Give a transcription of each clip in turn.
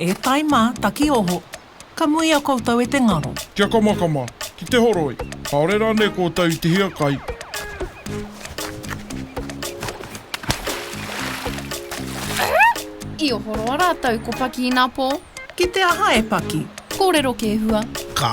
E tai mā, taki oho. Ka muia koutou e te ngaro. Kia kamakama, ki te horoi. Kāore rānei koutou i te hiakai? I ohoroa rātou ko Paki inapō. Ki te aha e Paki? Kōrero kē hua. Ka.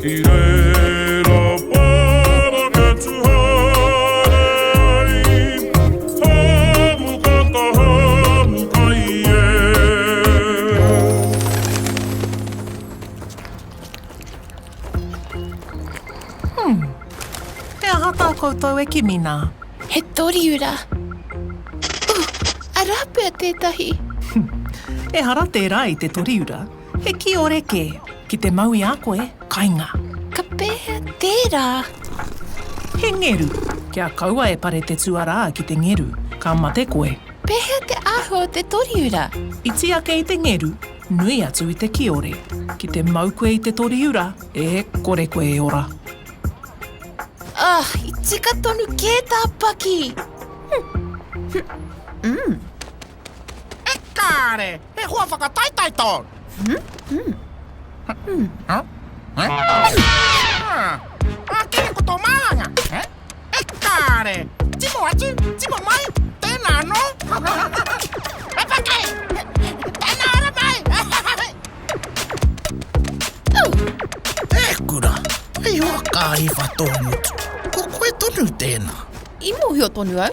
Ki reira parangetu haere ai, hamu ka ka hamu kai e. Hum. He aha tā koutou e kimi nā? He toriura. Ooh, arā pea tētahi. Ehara tērā i te toriura. He kiore kē. Ki te mau i a koe, kainga. Ka pēhea tērā? He ngeru. Kia kaua e pare te tuarā ki te ngeru, ka mate koe. Pēhea te āhua o te toriura? Iti ake i te ngeru, nui atu i te kiore. Ki te mau koe i te toriura, e kore koe e ora. Ugh, i tika tonu kē tā Paki! Humph. Umm. E kāre! He hoa whakataetae tōu! Ā, kē ko tō māhanga! E kāre! Timo atu, timo mai! Tēnā anō! He pakari! Tēnā ora mai! E kura! Hei hoa kāhiwha tō ngutu! Ko koe tonu tēnā! I mōhio tonu au!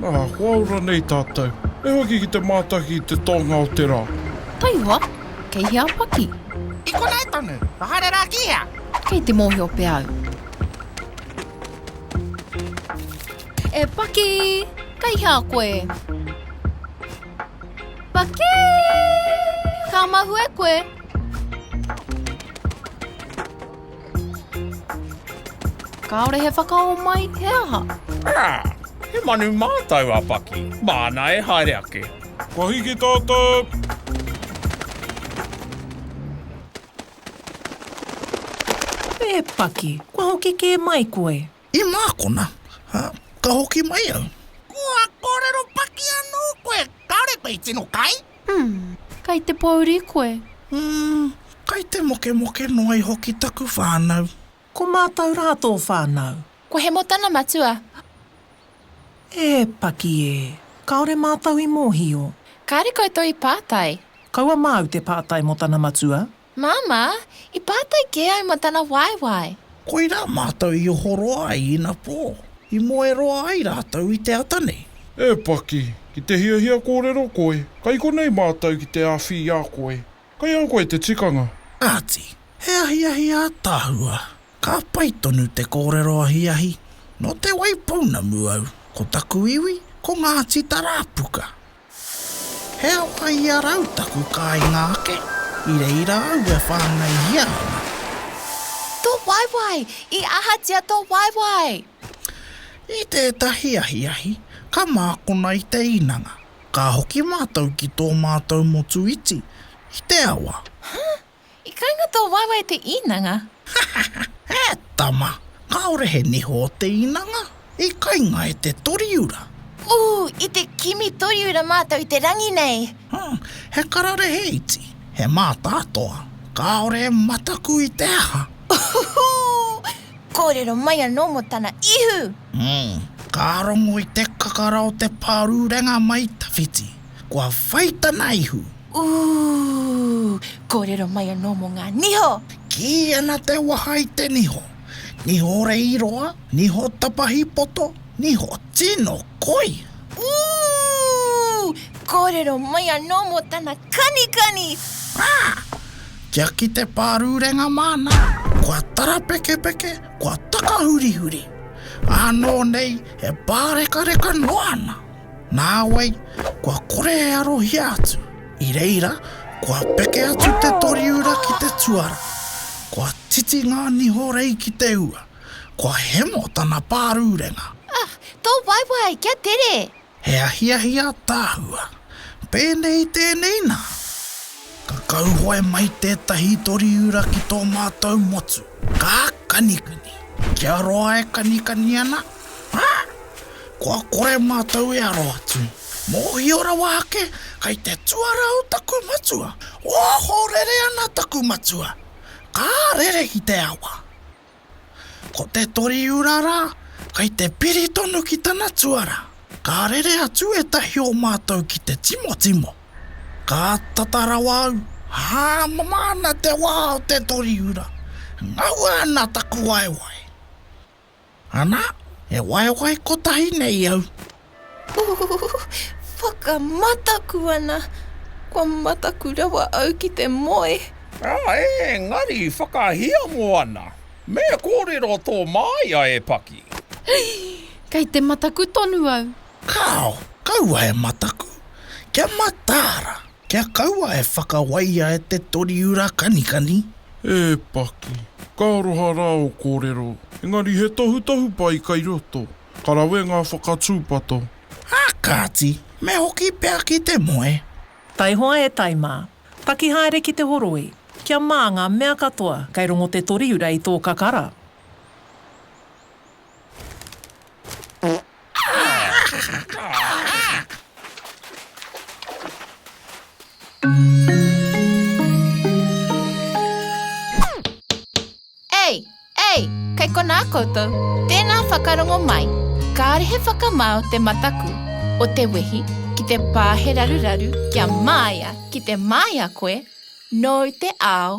Ā, kua ora nei tātou. He hoki ki te mātaki i te tōnga o te rā. Taihoa, kei hea a Paki? I konei tonu. Haere rā ki hea? Kei te mōhio pea au. E Paki, kei hea koe? Paki! Ka mahue koe? Kāore he whakaō mai, he aha? Ā! He manu mātau a Paki, māna e haere ake. Kua hiki tātou! E Paki, kua hoki kē mai koe? I mākona, ā, ka hoki mai au. Kua kōrero paki anō koe, kāore koe i tino kai? Umm, kai te pōuri koe? Umm, kai te mokemoke noa iho ki taku whānau. Ko mātou rā tō whānau? Ko Hemo tana matua. E paki ē, kāore mātou i mōhio. Kāore koutou i pātai? Kaua māu te pātai mō tana matua? Māmā, i pātai kē au mō tana waewae. Koirā mātou i ohoroa ai ina pō. I moe roa ai rātou i te ata nei. E Paki, ki te hiahia kōrero koe, kai konei mātou ki te āwhi i a koe. Kai a koe te tikanga. Kāti, he ahiahi ātaahua. Ka pai tonu te kōrero ahiahi. Nō Te Waipounamu au, ko taku iwi, ko Ngāti Tarāpuka. He aha i a rau taku kāinga ake? I reira au e whāngaihia ana. Tō waewae! I ahatia tō waewae? I tētahi ahiahi, ka mākona i te īnanga. Ka hoki mātou ki tō mātou motu iti, i te awa. Huh? I kainga tō waewae te īnanga. Hahaha, e tama, kāore he niho o te īnanga, i kainga e te toriura. Ooh, i te kimi toriura mātou i te rangi nei. Huh, he kararehe iti, he mātātoa, kāore e mataku i te aha. Uhuhu, kōrero mai anō mō tana ihu. Huh, ka rongo i te kakara o te pārurenga mai tawhiti. Kua whai tana ihu. Ooh! Kōrero mai anō mō ngā niho! Kī ana te waha i te niho. Niho reiroa, niho tapahi poto, niho tino koi! Ooh! Kōrero mai anō mō tana kanikani! Raa! Kia ki te pārurenga māna, kua tarapekepeke, kua takahurihuri! Ānō nei e pārekareka noa ana! Nāwai, kua kore e arohia atu. I reira, kua peke atu te toriura ki te tuara. Kua titi ngā niho rei ki te ua. Kua hemo tana pārurenga. Ah, tō waewae, kia tere! He ahiahi ātaahua. Pēnei tēnei nā. Ka kauhoe mai tētahi toriura ki tō mātou motu. Ka kanikani. Kia roa e kanikani ana. Ah! Kua kore mātou e aro atu. Mōhio rawa ake, kei te tuara o taku matua. Ohorere ana taku matua. Ka rere ki te awa. Ko te Toriura rā, kei te piri tonu ki tana tuara. Ka rere atu ētahi o mātou ki te timotimo. Ka tata rawa au, hāmama ana te wā o te Toriura. Ngaua ana taku waewae. Ana, he waewae kotahi nei au. Ooh, whakamataku ana. Kua mataku rawa au ki te moe. Aa, engari whakahiamo ana. Me kōrero tō māia e paki. Hei! Kei te mataku tonu au. Kāo, kaua e mataku, kia mataara. Kia kaua e whakawaia e te Toriura Kanikani. E Paki, ka aroha rā ō kōrero, engari he tohutohu pai kai roto. Ka rawe ngā whakatūpato. Ā kāti, me hoki pea ki te moe. Taihoa e tai mā. Paki haere ki te horoi. Kia mā ngā mea katoa, kei rongo te Toriura i tō kakara. Ei! Ei! Kei konā koutou. Tēnā whakarongo mai. Kāore he whakamao te mataku o te wehi ki te pā he raruraru kia māia ki te māia koe nōu te ao